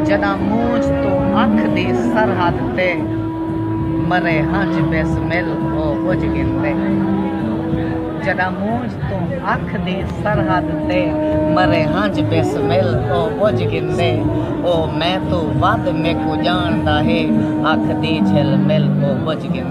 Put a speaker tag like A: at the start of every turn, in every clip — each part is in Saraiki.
A: جݙاں مونجھ توں اکھ دی سرحد تے مرے ہنج بسمل او بجھ گھندے جݙاں مونجھ توں اکھ دی سرحد تے مرے ہنج بسمل او بجھ گھندے او میں توں ودھ میکوں جاندا ہے اکھ دی جھل مل او بجھ گھندے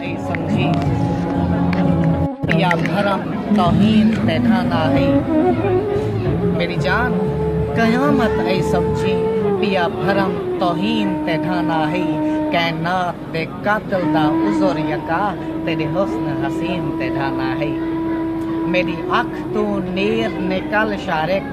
A: سمجھی یا بھرم توہین تیڈا نہ ہئی میری جان قیامت اے سمجھی پیا بھرم توہین تیڈا نہ ہئی کائنات دے قاتل دا عذر یکا تیڈے حسن حسین تیڈا نہ ہئی میری اکھ توں نیر نکل شارق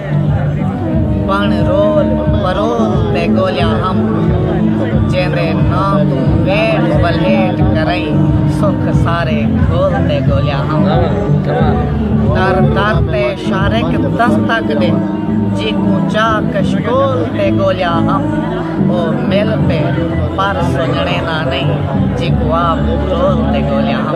A: بݨ رول پرول تے گولیاں ہم جیندے نا توں ویٹ ولیٹ کریں سکھ سارے گھول تے گولیاں ہم در در تے شارک دستک دے جی کو چا کشکول تے گولیاں ہم او مل تے پر سجنے نا نہیں جی کو آپ رول تے گولیاں ہم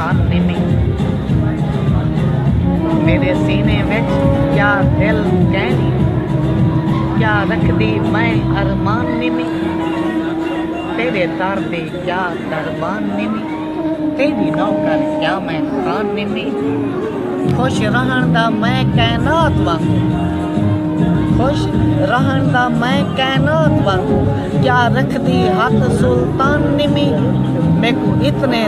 A: ساتھ ݙیندی میݙے سینے وچ کیا دل کیندی کیا رکھدی میں ارمان ݙیندی تیݙے در دے کیا دربان ݙیندی تیݙی نوکر کیا میں خان ݙیندی خوش رہݨ دا میں کائنات وانگوں خوش رہن دا میں کائنات وانگو کیا رکھ دی ہاتھ سلطان نمی میکو اتنے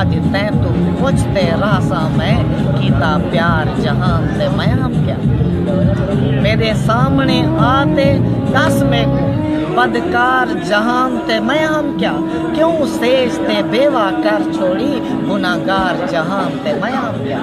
A: اج تیں توں پچھ تے رہساں میں کیتا پیار جہان تے میاں کیا میڈے سامنے آ تے دس میکوں بدکار جہان تے میاں کیا کیوں سیج تے بیوہ کر چھوڑی گناہگار جہان تے میاں کیا۔